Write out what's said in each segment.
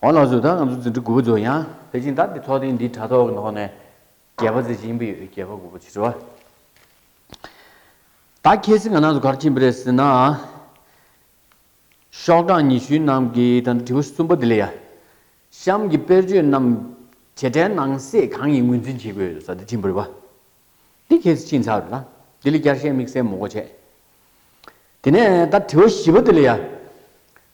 ཝང་ལགས་བཟོ་ལྟར་ང་ཚོ་འཛིན་གྲྭ་དགུ་པ་རྫོགས་ཡང་དེ་བཞིན་བདག་གི་ཐོག་ཐེངས་འདིའི་དྲྭ་ཐོག་གི་ནང་ནས་རྒྱལ་བ་ཟེར་གྱི་ཡིན་པ་ཡོད་རྒྱལ་བ་དགུ་པ་ཆེ་བ་དག་ཁྱེད་ཚིག་ང་ནང་དུ་གར་ཕྱིན་པ་རེད་ཟེར་ནའང་ཤོག་གྲངས་ཉི་ཤུའི་ནང་གི་ད་ལྟ་དྲི་བ་གསུམ་པ་འདི་ལས་ཡ་གཤམ་གྱི་དཔེར་བརྗོད་རྣམས་བྱེད་སྒྲའི་ནང་གསེས་གང་ཡིན་ངོས་འཛིན་བྱེད་དགོས་ཡོད་ས་འདི་ཕྱིན་པ་རེད་བ་འདི་ཁྱེད་ཚིག་ཕྱིན་ཚར་རེད་ལ་འདི་ལ་བསྐྱར་བཤད་དམིགས་བསལ་མོ་གོ་བྱས་དེ་ནས་ད་དྲི་བ་བཞི་པ་འདི་ལས་ཡ།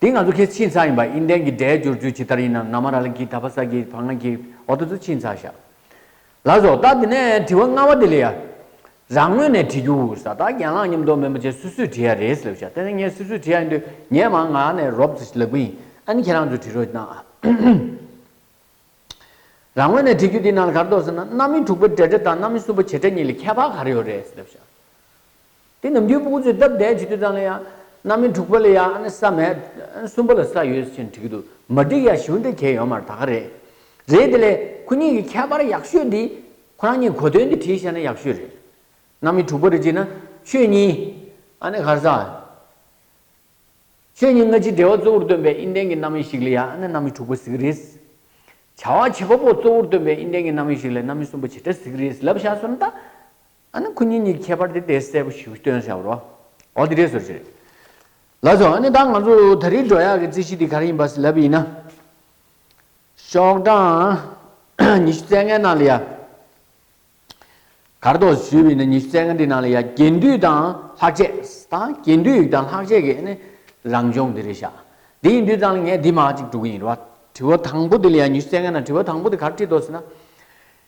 འདི་ང་ཚོ་ཁེ་ཆིན་ཚང་ཡིན་པ་ཨིན་ལྡན་གྱི་སྒྲའི་བསྒྱུར་བཅོས་ཇི་ལྟར་ཡིན་ནམ་ན་མ་ར་ལ་གིས་ད་བ་ས་གིས་བ་ང་གིས་ཨོ་ཏོ་ཚོ་ཆིན་ཚང་ཤག་ལ་བཟོ་ལྟ་དེ་ནས་དྲི་བ་ལྔ་བ་དེ་ལས་ཡ་རང་ངོས་ནས་དྲི་རྒྱུ་ས་ད་གྱེན་ལངས་ཉམས་རྟོགས་མེད་མོ་ཅེས་སུས་སུས་དྲི་ཡ་རེད་ཟེར་ལབ་ཤག་དེ་ནས་ངས་སུས་སུས་དྲི་ཡ་ཡིན་དུས་ངས་མ་ང་ནས་རོབ་ཙི་ལགས་པུ་ཡིན་ཨ་ནི་ཁྱེད་རང་ཚོས་དྲི་རོ་གནང་ཨ། རང་ངོས་ནས་དྲི་རྒྱུ་དེ་ནང་ལ་ག་རེ་འདོགས་ཟེར་ན་གནའ་མི་དྲུག་པ་འདྲེ་འདྲེ་དང་གནའ་མི་གསུམ་པ་བྱེ་བྲག་གཉིས་ལས་ཁྱད་པར་ག་རེ་ཡོད་རེད་ཟེར་ལབ་ཤག། དེ་ནམ་རྒྱུན་སྤུག་ཚོས་སྟབས་བདེ་བྱེད་དུས་ཙམ་ལ་ཡང་གནམ་མི་འཁྲུག་པ་ལ་ཡང་ས་མེད། གསུམ་པ་ལ་ས་ཡོད་ཕྱིན་འགྲིག་འདུག་མ་འགྲིག་ཡང་ཞིང་འབྲོག་གྱེས་ཡོང་མར་ད་ག་རེད། རེད་དེ་ལས་ཁོ་གཉིས་ཀྱི་ཁྱད་པར་ཡག་ཤོས་འདི་ཁོ་རང་གཉིས་གོ་དོན་འདི་བྲིས་ཤར་ན་ཡག་ཤོས་རེད། གནམ་མི་འཁྲུག་པ་རེད་ཅེ་ན་ཆོས་ཉིད། གར་ས། ཆོས་ཉིད་སྔ་ཕྱིའི་འབྲེལ་བ་གཙོ་བོར་སྟོན་པའི་ཨིན་ལྡན་གྱི་གནམ་མི་ཞིག་ལ་ཡང་གནམ་མི་འཁྲུག་པ་ཟིག་རེད། བྱ་བ་བྱེད་པ་པོ་གཙོ་བོར་སྟོན་པའི་ཨིན་ལྡན་གྱི་གནམ་མི་ཞིག་ལ་གནམ་མི་གསུམ་པ་ཇི་འདྲ་ཟིག་རེད་ལབ་བཞག་སོང་ད། ཨ་ནི་ཁོ་གཉིས་གཉིས་ཀྱི་ཁྱད་པར་དེ་དེ་གསལ་པོ་ཞིག་སྟོན་བྱ་བ་རོ། འོ་དེ་འདྲའི་ཟུར་ཞིག་རེད། ལགས་སོ། ཨ་ནི་ད་ང་ཚོ་ད་རེས་འགྲོ་ཡག་གི་རྩིས་གཞི་དེ་ག་རེ་ཡིན་པ་ཞིག་ལབ་ཡིན་ན། ཤོག་གྲངས་ཉི་ཤུ་རྩེ་ལྔའི་ནང་ལ་ཡ། གར་དོགས་སུ་ཞུས་པ་ཡིན་ན་ཉི་ཤུ་རྩེ་ལྔ་དེའི་ནང་ལ་ཡ་རྒྱན་དུས་དང་ལྷག་ཆད་དང་རྒྱན་དུས་ཡིག་དང་ལྷག་ཆད་ཀྱི་ཨ་ནི་རང་སྦྱོང་དེ་རེ་བྱ། དེ་ཡིན་དུས་ཙང་ལ་ངས་དེ་མ་གཅིག་དྲུག་གི་ཡིན་རུང་ཨ། དྲི་བ་དང་པོ་དེ་ལ་ཡ་ཉི་ཤུ་རྩེ་ལྔའི་ནང་དྲི་བ་དང་པོ་དེ་གར་བྲིས་འདོགས་ཟེར་ན།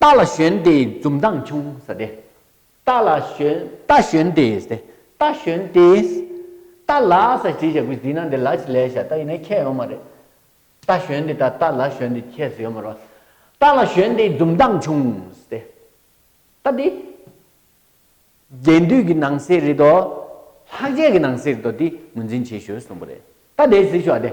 རྟ་ལ་ཞོན་ཏེ་འཛུམ་མདངས་ཕྱུང། ས་སྟེ། རྟ་ལ་ཞོན། རྟ་ཞོན་ཏེ་ས་སྟེ། རྟ་ཞོན་ཏེ། རྟ་ལ་ས་སྟེ་ཞེས་བྱ་བྱེད་ན་འདི་ལ་ཞེས་ལས་བྱ་རྟ་ཡིན་ན་ཁྱད་ཡོད་མ་རེད། རྟ་ཞོན་ཏེ་དང་རྟ་ལ་ཞོན་ཏེ་ཁྱད་སུ་ཡོད་མ་རེད། རྟ་ལ་ཞོན་ཏེ་འཛུམ་མདངས་ཕྱུང། ས་སྟེ། རྟ་འདི། རྒྱས་འདུས་ཀྱི་ནང་གསེས་རེད་དོ། ལྷག་བཅས་ཀྱི་ནང་གསེས་རེད་དོ་འདི་ངོས་འཛིན་བྱེད་ཞོར་གསུངས་པ་རེད། རྟ་འདི་ཞེས་བྱ་བ་དེ།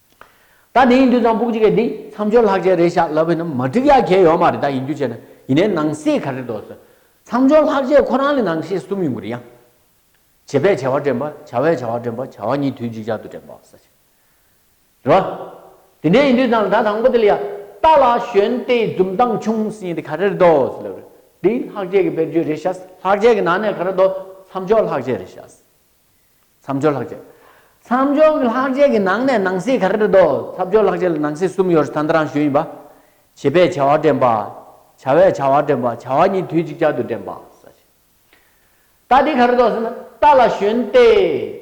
ད་དེ་ཡིན་དུས་ཚངས་བུག་ཅིག་གི་འདི་མཚམས་སྦྱོར་ལྷག་ཆད་རེ་བཞག་ལབ་ཡིན་ན་མ་འགྲིག་ཡ་གལ་ཡོད་མ་རེད་ད་ཡིན་དུས་བྱས་ན་ཡིན་ནའི་ནང་གསེས་ག་རེ་འདོགས་སོ། མཚམས་སྦྱོར་ལྷག་ཆད་ཁོ་རང་ལས་ནང་གསེས་གསུམ་ཡོང་གི་རེད་ཡ། བྱེད་པས་བྱ་བ་དྲན་པ་བྱ་བས་བྱ་བ་དྲན་པ་བྱ་བ་གཉིས་དུས་གཅིག་ཅར་དུ་དྲན་པ་ས་ཆ་རེད་བ། དེ་འདྲས་ཡིན་དུས་ཚངས་ད་དང་པོ་དེ་ལ་ཡ། རྟ་ལ་ཞོན་ལྟའི་འཛུམ་མདངས་ཆུང་ཟིན་ཡིན་དུས་ག་རེ་རེ་འདོགས་སོ་ལབ་རེ། འདི་ལྷག་ཆད་ཀྱི་དཔེར་བརྗོད་རེ་བྱ། ལྷག་ཆད་ཀྱི་ནང་ནས་ག་རེ་འདོགས་མཚམས་སྦྱོར་ལྷག་ཆད་རེ་བྱ། མཚམས་སྦྱོར་ལྷག་བཅས། མཚམས་སྦྱོར་གྱི་ལྷག་བཅས་ཀྱི་ནང་ནས་ནང་གསེས་ག་རེ་རེ་དོ། མཚམས་སྦྱོར་ལྷག་བཅས་ལ་ནང་གསེས་གསུམ་ཡོད་རེད་ད་ལྟ་རང་ཞུས་ཡིན་པ། བྱེད་པས་བྱ་བ་འདྲེན་པ། བྱ་བས་བྱ་བ་འདྲེན་པ། བྱ་བ་གཉིས་དུས་གཅིག་ཅར་དུ་འདྲེན་པ། རྟགས་འདི་ག་རེ་དོ་ཟེར་ན། རྟགས་ལ་ཞོན་ཏེ།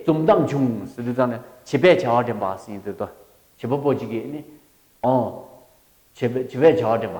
རྩོམ་གཏམ་བྱུང་ཟེར་དུས་ཙང་ནས་བྱེད་པས་བྱ་བ་འདྲེན་པ་ཟིན་ཟེར་དོ། བྱེད་པ་པོ་གཅིག་གིས་ནི། ཨོ། བྱེད་པས་བྱ་བ་འདྲེན་པ།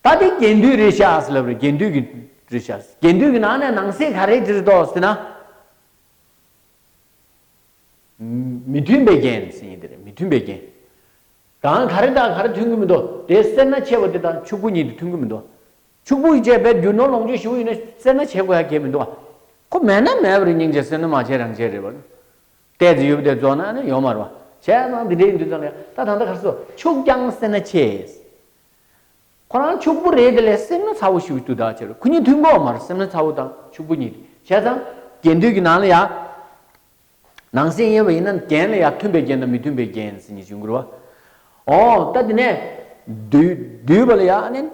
ད་ལྟའི་རྒྱན་དུས་རེད་ཤག་ཟེར་ལབ་རེད་རྒྱན་དུས་ཀྱི་རེད་ཤག་རྒྱན་དུས་ཀྱི་ནང་ནས་ནང་གསེས་ག་རེ་འདྲིར་འདོགས་ཟེར་ན། མི་མཐུན་པའི་རྒྱན་ཟེར་ཡིན་དེ་རེད་མི་མཐུན་པའི་རྒྱན། གང་ག་རེ་དང་ག་རེ་མཐུན་གྱི་མི་འདུག་དེ་སེར་སྣ་ཆེ་བ་དེ་དང་ཕྱུག་པོ་གཉིས་དེ་མཐུན་གྱི་མི་འདུག་ཕྱུག་པོ་བཅས་པས་རྒྱུ་ནོར་ལོངས་སྤྱོད་ཞུ་ཡིན་ན་སེར་སྣ་ཆེ་དགོས་ཡ་གལ་མི་འདུག་ཁོ་མེད་ན་མེད་པ་རེད་སྙིང་རྗེ་སེར་སྣ་མ་ཆེ་རང་ཆེ་རེད་བ། གཏད་དེ་ཡོད་པ་དེ་རྫོགས་ན་ཡོང་མ་རུང་བ། བྱས་ཙང་དེ་འདྲའི་ཡིན་དུས་ཙམ་ལས་ད་ད་ལྟ་ག་རེ་སོ་ཕྱུག་ཀྱང་སེར་སྣ་ཆེ། ཁོ་རང་ཕྱུག་པོ་རེད་དེ་ལས་སེམས་ན་ཚ་བོ་ཞིག་གི་དུས་དག་ཆར་ཁོ་གཉིས་མཐུན་གོ་མ་རེད་སེམས་ན་ཚ་བོ་དང་ཕྱུག་པོ་གཉིས་དེ་བྱས་ཙང་རྒྱན་དུས་ཀྱི་ནང་ལ་ཡང་ནང་སེམས་ཡིན་པ་ཡིན་ན་རྒྱན་ལ་ཡང་མཐུན་པའི་རྒྱན་དང་མི་མཐུན་པའི་རྒྱན་ཟེར་ནི་བྱུང་གི་རེད་བ། འོང་ལྟ་དེ་ནས་བསྡུས་པ་ལ་ཡང་ཨ་ནན་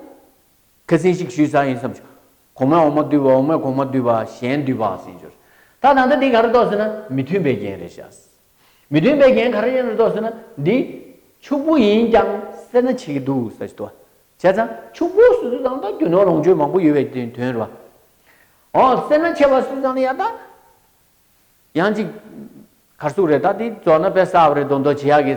ཁ་ཟིན་ཞིག་ཞུས་ས་ཡིན་བསམ་བྱུང་གོང་མས་འོག་མ་བསྡུས་པ་འོག་མས་གོང་མ་བསྡུས་པ་གཞན་བསྡུས་པ་ཟེར་གྱི་རེད་ད་ད་ལྟ་དེ་ག་རེ་གཏོགས་ཟེར་ན་མི་མཐུན་པའི་རྒྱན་རེད་བྱས། མི་མཐུན་པའི་རྒྱན་ག་རེ་ཡིན་རུང་རྟོགས་ཟིན་ན་འདི། ཕྱུག་པོ་ཡིན་ཀྱང་སེར་སྣ་བྱེད་ཀྱི་འདུག་ཟེར་བྱེད་དོ། བྱས་ཙང་ཕྱུག་པོ་སུས་སུས་ཙང་ད་རྒྱུ་ནོར་ལོངས་སྤྱོད་མང་པོ་ཡོད་པའི་དོན་རེད་བ། འོ་སེར་སྣ་ཆེ་བ་སུས་ཙང་ནི་ཡང་ད། ཡང་ཅིག། གར་སུག་རེད་ད་འདི་རྫོགས་ན་དཔེ་གསར་བ་རེ་འདོན་འདོད་བྱེད་ཡག་གི།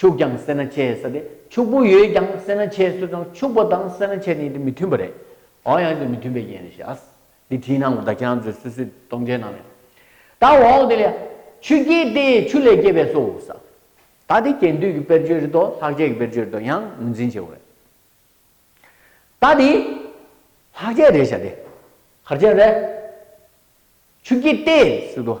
ཕྱུགས་ཀྱང་སེར་སྣ་ཆེ་ས་དེ་ཕྱུག་པོ་ཡོད་ཀྱང་སེར་སྣ་ཆེ་སུས་ཀྱང་ཕྱུག་པོ་དང་སེར་སྣ་ཆེ་ནི་དེ་མི་མཐུན་པ་རེད་འོང་ཡང་དེ་མི་མཐུན་པའི་རྐྱེན་རེད་ཤགས་འདི་བྲིས་ནའང་བདག་ཅག་ཚོས་སུས་སུས་གཏོང་མཇལ་གནང་རེད་ད་འོང་དེ་ལས་ཆུ་སྐྱེས་ཏེ་ཆུ་ལས་སྐྱེས་པས་སོ་ས་ད་དེ་གྱེན་དུས་ཀྱི་དཔེར་བརྗོད་རེད་དོ་ལྷག་ཆད་ཀྱི་དཔེར་བརྗོད་རེད་དོ་ཡང་ངོས་འཛིན་བྱེད་དགོས་རེད་ད་དེ་ལྷག་ཆད་རེད་ཤགས་དེ་ཧར་ཆད་རེད་ཆུ་སྐྱེས་ཏེ་སུས་ཀྱང་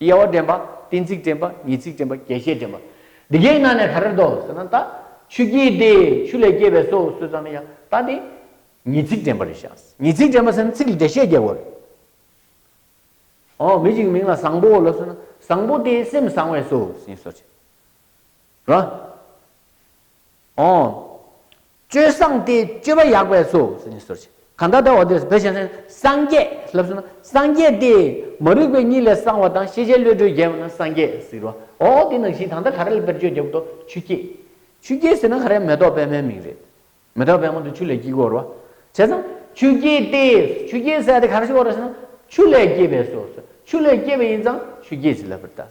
དབྱེ་བ་འདྲེན་པ། གཏན་ཚིགས་འདྲེན་པ། ངེས་ཚིག་འདྲེན་པ། རྒྱས་བཤད་འདྲེན་པ། འདི་གའི་ནང་ནས་ག་རེར་འདོགས་ཟེར་ན་ད། ཆུ་སྐྱེས་ཏེ། ཆུ་ལས་སྐྱེས་པས་སོ་ཟེར་ཙང་ན་ཡང་ད་དེ། ངེས་ཚིག་འདྲེན་པ་རེད་བཞག། ངེས་ཚིག་འདྲེན་པ་ཟེར་ན་ཚིག་ལ་འགྲེལ་བཤད་རྒྱག་དགོས་རེད། ཨོ་མི་གཅིག་མིང་ལ་བཟང་པོ་ལ་ཟེར་ན་བཟང་པོ་དེ་སེམས་བཟང་བས་སོ་ཟེར་ནས་སོ་བྱེད། རེད། འོང། སྤྱོད་བཟང་སྟེ་སྤྱོད་པ་ཡག་པས་སོ་ཞེས་ནི་ཟུར་ཕྱེ། གང་དག་དག་བ་དེས་བུ་ཞེས་ཟེར་ན་སངས་རྒྱས་ལབ་ཟེར་ན་སངས་རྒྱས་ཏེ། མ་རིག་པའི་གཉིད་ལས་སངས་བ་དང་ཤེས་བྱའི་བློས་གྲོལ་རྒྱལ་བ་ན་སངས་རྒྱས་ཟེར་རོ། ཨོ་ཨོ་དེ་ནང་བཞིན་གང་དག་ག་རེ་ལ་དཔེར་བརྗོད་བརྒྱབ་དོ་ཆུ་སྐྱེས། ཆུ་སྐྱེས་ཟེར་ན་ག་རེ་མེ་ཏོག་པད་མའི་མིང་རེད། མེ་ཏོག་པད་མ་དེ་ཆུ་ལས་སྐྱེས་གོ་རོ། བྱས་ཙང་ཆུ་སྐྱེས་ཏེ་ཆུ་སྐྱེས་ཟེར་དེ་ག་རེ་ཞིག་གོ་རོ་ཟེར་ན་ཆུ་ལས་སྐྱེས་པས་སོ་ཟེར་ཆུ་ལས་སྐྱེས་པ་ཡིན་ཙང་ཆུ་སྐྱེས་ཞེས་ལབ་པར་གདའ།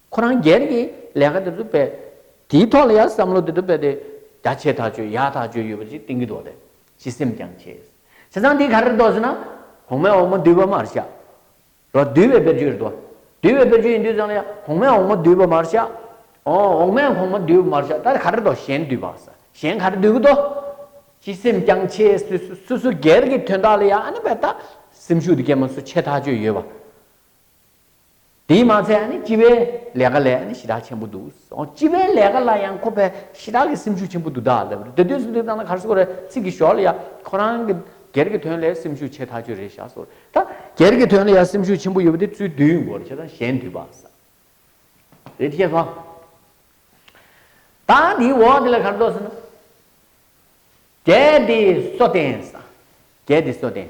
ཁོ་རང་སྒེར་གྱི་ལས་ཀ་དེ་ཚོ་བས། དེའི་ཐོག་ལ་ཡང་བསམ་བློ་དེ་ཚོ་བས་ཏེ། བརྒྱ་ཆའི་ཐག་གཅོད་ཡ་ཐག་གཅོད་ཡོད་པ་ཅིག་གཏིང་གི་ཐོག་ཏེ་སྤྱི་སེམས་ཀྱང་ཆེ། བྱས་ཙང་དེ་ག་རེར་དོགས་ཟེར་ན། གོང་མའི་འོག་མ་འདུལ་བ་མར་བཞག། རོ། འདུལ་བའི་དཔེར་བརྗོད་རེད་དོ། འདུལ་བའི་དཔེར་བརྗོད་ཡིན་དུས་ཙང་ལ་ཡང་གོང་མའི་འོག་མ་འདུལ་བ་མར་བཞག། འོང། འོག་མའི་གོང་མ་འདུལ་བ་མར་བཞག་ད་རེ་ག་རེར་དོགས་གཞན་འདུལ་བ། གཞན་ག་རེ་འདུལ་གི་དོགས། སྤྱི་སེམས་ཀྱང་ཆེ། སུ་སུ་སྒེར་གྱི་དོན་དག་ལ་ཡང་ཨ་ནི་བས་ད། སེམས་ཤུགས་དེ་སྐྱེས་མ་སུ་ཆེ་ཐག་གཅོད་ཡོད་པ། དེས་མ་ཚད་སྤྱི་བའི་ལས་ཀ་ལས་ཞི་དྲག་ཆེན་པོ་འདུག་སྤྱི་བའི་ལས་ཀ་ལ་ཡང་ཁོ་པས་ཞི་དྲག་གི་སེམས་ཤུགས་ཆེན་པོ་འདུག་ད་ལབ་རེད་དེ་དུས་སུ་འདི་ལྟ་ན་གར་སོ་ཀོ་རེ་ཚིག་གི་ཞོར་ལ་ཡ་ཁོ་རང་གི་སྒེར་གི་དོན་ལས་སེམས་ཤུགས་ཆེ་ཐག་ཆོད་རེད་བཞག་སོ་ད་སྒེར་གི་དོན་ལ་ཡ་སེམས་ཤུགས་ཆེན་པོ་ཡོད་པ་དེ་ཚུལ་བདུན་དགོ་རེད་བྱས་ཙང་གཞན་དུས་བག་ས་རེད་ཤེས་སོང་ད་དེའི་འོག་དེ་ལ་གར་འདོགས་ཟེར་ན་གལ་ཏེ་སོ་བསྟན་ས་གལ་ཏེ་སོ་བསྟན།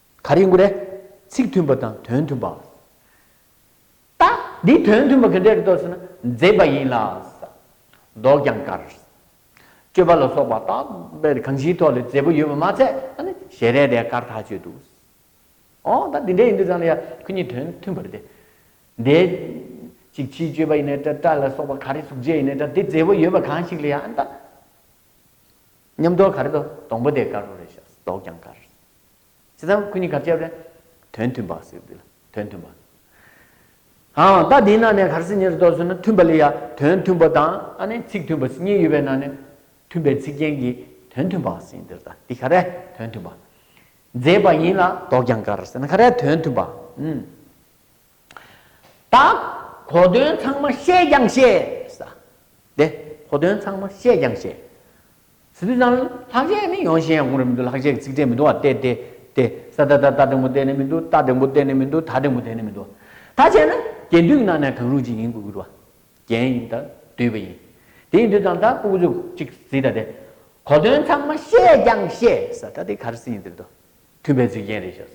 ག་རེ་འགོ་རེད། ཚིག་མཐུན་པ་དང་དོན་མཐུན་པ། ད་འདིའི་དོན་མཐུན་པ་ག་འདྲ་རེད་ཟེར་ན་མཛེས་པ་ཡིན་ལ། མདོག་ཀྱང་དཀར། སྤྱོད་པ་ལ་སོགས་པ་ད་དཔེར་གང་ཞིའི་ཐོག་ལས་མཛེས་པོ་ཡོད་པ་མ་ཚད་ཨ་ནི་ཞལ་རས་དེ་དཀར་ཐག་ཆོད་འདུག། ཨོ་ད་འདི་འདྲ་ཡིན་འདུག་ཙང་ལ་ཡ་ཁོ་གཉིས་དོན་མཐུན་པ་རེད་དེ། དེ། ཅིག་ཕྱིའི་སྤྱོད་པ་ཡིན་ནའི་འདྲ་སྐྲ་ལ་སོགས་པ་ག་རེ་གཟུགས་བྱད་ཡིན་ནའི་འདྲ་དེ་མཛེས་པོ་ཡོད་པ་གང་ཞིག་ལ་ཡ་ཨ་ནི་ད། ཉམས་མདོག་ག་རེ་དང་སྡོང་པོ་དེ་དཀར་པོ་རེད་ཤག་མདོག་ཀྱང་དཀར། ཇི་ཙམ་སྐུ་ཉིད་གར་སྐྱེ་བ་ལས། དོན་མཐུན་པ། དོན་མཐུན་པ། ཨང། ད་དེའི་ནང་ནས་གར་སེམས་ཉིད་རེ་དོགས་ཟེར་ན་མཐུན་པ་ལས་ཡ། དོན་མཐུན་པ་དང་ཨ་ནི་ཚིག་མཐུན་པ་གཉིས་ཡོད་པའི་ནང་ནས། མཐུན་པའི་ཚིག་རྒྱན་གྱིས་དོན་མཐུན་པ་ཟིན་འདིར་ད་དེ་ག་རེ་དོན་མཐུན་པ། མཛེས་པ་ཡིན་ལ་དོགས་ཀྱང་གར་ཟེར་ན་ག་རེ་དོན་མཐུན་པ། དག། གོ་དོན་ཚང་མ་ཤེས་ཀྱང་ཤེས། དེ། གོ་དོན་ཚང་མ་ཤེས་ཀྱང་ཤེས། ཟི་ལི་ལཱ། ལྷག་ཆད་ནི་ཡོང་ཞེན་ཡང་གོང་རེ་མི་འདུག་ལྷག་ཆད་ཀྱི་ཚིག་ཕྲད་མི་འདུག་བ་སྟེ་དེ། དེ། ས་ད་ད་ད་དང་པོ་དེ་ནི་མི་འདུག་ད་དང་པོ་དེ་ནི་མི་འདུག་ད་དང་པོ་དེ་ནི་མི་འདུག། ད་ཆད་ན། གྱེན་དུས་ཀྱི་ནང་ནས་གང་རུང་ཅིག་ཡིན་དགོས་ཀྱི་འདུག་བ། གྱེན་ཡིན་ད་དུས་པ་ཡིན། དེ་ཡིན་དུས་ཙམ་ད་ཀོ་ཀོ་ཅུ་ཅིག་ཟིད་ད་དེ། གོ་དོན་ཚང་མ་ཤེས་ཀྱང་ཤེས། ད་དེ་ག་རེ་སྲིད་ཡིན་ཟེར་དུ། མཐུན་པའི་རྫིག་རྒྱན་རེ་བྱ།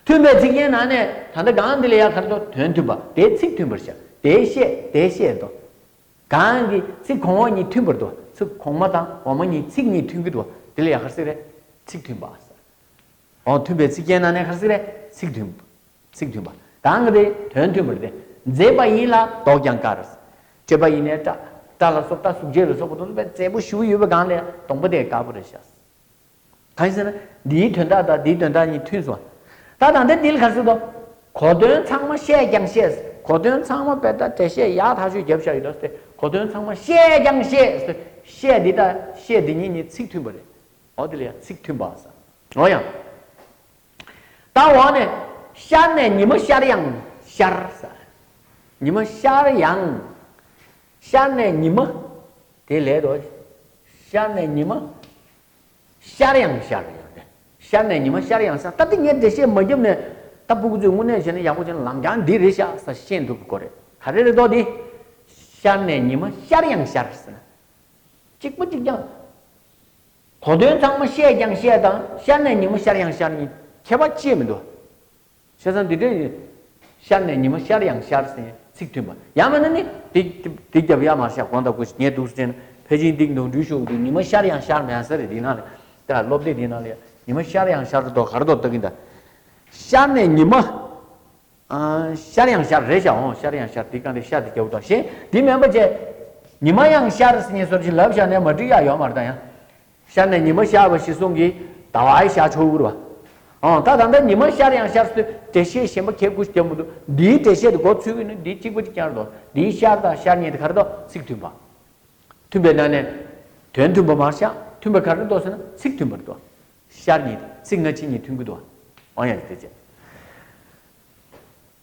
མཐུན་པའི་རྫིག་རྒྱན་ནང་ནས་ད་ལྟ་གང་འདི་ལ་ཡ་གར་དོ་དོན་མཐུན་པ་དེའི་ཚིག་མཐུན་པར་བྱ། དེའི་བཤད་དེའི་བཤད་དོ། གང་གི་ཚིག་གོང་འོག་གཉིས་མཐུན་པར་དུ་བ་ཚིག་གོང་མ་དང་འོག་མ་གཉིས་ཚིག་གཉིས་མཐུན་གྱི་དུ་བ་དེ་ལ་ཡ་གར་ཚིག་རེ་ཚིག་མཐུན་པ། འོག་མཐུན་པའི་ཚིག་རྒྱན་ནང་ནས་གར་ཚིག་རེ་ཚིག་མཐུན་པ་ཚིག་མཐུན་པ། གང་གི་དེ་དོན་མཐུན་པར་དེ་མཛེས་པ་ཡིན་ལ་མདོག་ཀྱང་དཀར། བཀྲེས་པ་ཡིན་ནས་སྐྲ། སྐྲ་ལ་སོགས་སྐྲ་གཟུགས་བརྒྱད་ལ་སོགས་པ་དུ་ལ་བའི་མཛེས་པོ་བཞུགས་ཡོད་པའི་གང་ལས་སྟོང་པ་དེ་དཀར་པོ་རེ་བྱ། གང་ཞེ་ན། འདིའི་དོན་དག་དང་འདིའི་དོན་དག་གཉིས་མཐུན་སོ། ད་དང་དེ་འདིལ་ག་སྲིད་དོ། གོ་དོན་ཚང་མ་བཤད་ཀྱང་ཤེས། གོ་དོན་ཚང་མ་བེ་ད་དེ་བཤད་ཡག་ཐག་ཆོད་རྒྱབ་བཞག་ཡོད་ད་སྟེ་གོ་དོན་ཚང་མ་བཤད་ཀྱང་ཤེས། བཤད་འདི་དང་བཤད་འདི་གཉིས་ནི་ཚིག་མཐུན་པ་རེད། འོ་དེ་ལ་ཡང་ཚིག་མཐུན་པ་ཟེར། འོ་ཡང། ད་འོ་ནི། ཤར་ནས་ཉི་མ་ཤར་ཡང་ཤར་ཟེར། ཉི་མ་ཤར་ཡང། ཤར་ནས་ཉི་མ། དེ་ལས་དོ། ཤར་ནས་ཉི་མ། ཤར་ཡང་ཤར་རེད་ཡོད་དེ། ཤར་ནས་ཉི་མ་ཤར་ཡང་ས་ད་ཏི་ངས་འགྲེལ་བཤད་མ་རྒྱབ་ནས་ད་སྤུ་གུ་ཚོས་དངོས་གནས་བྱས་ན་ཡག་པོ་བྱས་ན་ལམ་རྐྱང་འདི་རེད་ཤག་ས་ཤེས་འདུག་གོ་རེ་ད་རེ་རེ་དོག་འདི། ཤར་ནས་ཉི་མ་ཤར་ཡང་ཤར་ཟེར་ན། གཅིག་པ་གཅིག་ཀྱང། གོ་དོན་ཚང་མ་བཤད་ཀྱང་བཤད་དང་ཤར་ནས་ཉི་མ་ཤར་ཡང་ཤར་གཉིས་ཁྱད་པ་ཅི་ཡོད་མི་འདུག། བྱས་ཙང་འདི་འདྲའི། ཤར་ནས་ཉི་མ་ཤར་ཡང་ཤར་ཟིན་ཚིག་མཐུན་པ། ཡང་མིན་ན་ནི། འདི་འདི་རྒྱབ་ཡར་མར་ཤར་གོང་དང་དགོས་ངས་སྡུག་རྩེན། ཕལ་ཆེན་འདིག་འདུག་འགྲུལ་ཤོག་འདུག་ཉི་མ་ཤར་ཡང་ཤར་མེད་ཟེར་འདི་ན་ལས། དེ་ལ་སློབ་དེབ་འདི་ན་ལས། ཉི་མ་ཤར་ཡང་ཤར་དོ་གར་དོ་ལྟ་གིན་གདའ། ཤར་ནས་ཉི་མ། ཤར་ཡང་ཤར་རེད་ཤར་འོང་ཤར་ཡང་ཤར་འདི་གང་རེད་ཤར་འདི་རྒྱབ་དང་ཞེས་འདི་མེད་པ་བཅས། ཉི་མ་ཡང་ཤར་ཟིན་ཉེ་སོར་བྱིན་རླབས་ཤར་ནས་མ་བྲིས་ཡ་ཡོད་མ་རྟ་ཡང། ཤར་ནས་ཉི་མ་ཤར་བ་ཞེས་གསུངས་ཀྱི། ཟླ་བའི་ཤར་ཕྱོགས་དབུར་བ། ཨང། ད་ད་ལྟ་ཉི་མ་ཤར་ཡང་ཤར་ཚུལ་འགྲེལ་བཤད་གཞན་པ་གལ་དགུ་ཞིག་ཀྱང་མི་འདུག་འདིའི་འགྲེལ་བཤད་དུ་གོ་ཚུལ་ནི་འདི་གཅིག་པ་གཅིག་ཀྱང་རེད་དོ། འདིའི་ཤར་དང་ཤར་ཉེ་དེ་གར་ཏོ་ཚིག་མཐུན་པ། མཐུན་པའི་ནང་ནས། དོན་མཐུན་པ་མར་བཞག་མཐུན་པ་གར་རེ་ལྟོས་ཟེར་ན་ཚིག་མཐུན་པར་ལྟོས། ཤར་ཉེ་དེ་ཚིག་སྔ་ཕྱི་གཉིས་མཐུན་དགོས་ཏོ། ཨང། ཡང་ཅིག་དེ་བྱས།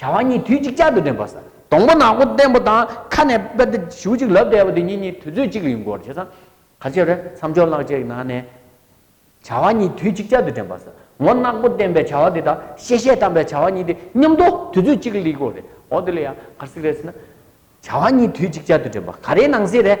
བྱ་བ་གཉིས་དུས་གཅིག་ཅར་དུ་འདྲེན་པ། སྡོང་པོ་ནག་པོ་བརྟན་པོ་དང་ཁ་ནས་པད་ཟླ་གཞུ་གཅིག་ལབ་བསྡད་པ་དེ་གཉིས་གཉིས་དུས་ཚོད་གཅིག་ཡིན་སྐོར་བྱས་ཙང། ག་ཅེ་རེ་མཚམས་འཇོག་ལག་བཅད་གནང་ནས། བྱ་བ་གཉིས་དུས་གཅིག་ཅར་དུ་འདྲེན་པ། ངོ་ནག་པོ་བརྟན་པའི་བྱ་བ་དེ་དང་ཤེས་བྱའི་དམ་པའི་བྱ་བ་གཉིས་དེ་མཉམ་དུ་དུས་ཚོད་གཅིག་ལི་སྐོར་རེད་འོ་དེ་ལ་ཡང་གར་སིག་རེ་ཟེར་ན། བྱ་བ་གཉིས་དུས་གཅིག་ཅར་དུ་འདྲེན་པ་ག་རེའི་ནང་གསེས་རེད།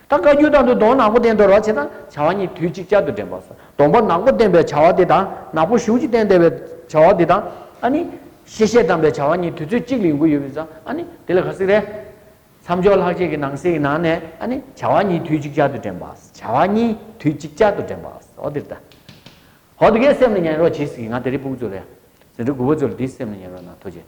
ད་བཀའ་རྒྱུད་དང་དུ་དོང་ནག་པོ་བསྟན་དོ་ར་བྱེད་དང་བྱ་བ་གཉིས་དུས་གཅིག་ཅར་དུ་འདྲེན་པ་སོ་དོང་པོ་ནག་པོ་བསྟན་པའི་བྱ་བ་དེ་དང་ནག་པོ་གཞུག་ཅིག་བསྟན་དེ་བའི་བྱ་བ་དེ་དང་ཨ་ནི། ཤེས་བྱའི་དམ་པའི་བྱ་བ་གཉིས་དུས་ཚོད་གཅིག་ལ་ཡོང་གི་ཡོད་པས་སོ་ཨ་ནི་དེ་ལ་ག་ཟིག་རེད། མཚམས་སྦྱོར་ལྷག་བཅས་ཀྱི་ནང་གསེས་ཀྱི་ནང་ནས་ཨ་ནི་བྱ་བ་གཉིས་དུས་གཅིག་ཅར་དུ་འདྲེན་པ་བྱ་བ་གཉིས་དུས་གཅིག་ཅར་དུ་འདྲེན་པ་ཨོ་དེ་རེད་ད། ཧོ་དེ་གས་སེམས་ལ་ཉན་རོགས་གྱིས་ཟིག་ང་དེ་རིགས་སྤུག་ཚོ་རེད། ཟེ་འབྲུ་དགུ་པོ་ཚོ་ལ་དེའི་སེམས་ལ་ཉན་རོགས་ན་ཐོ་བྱེད།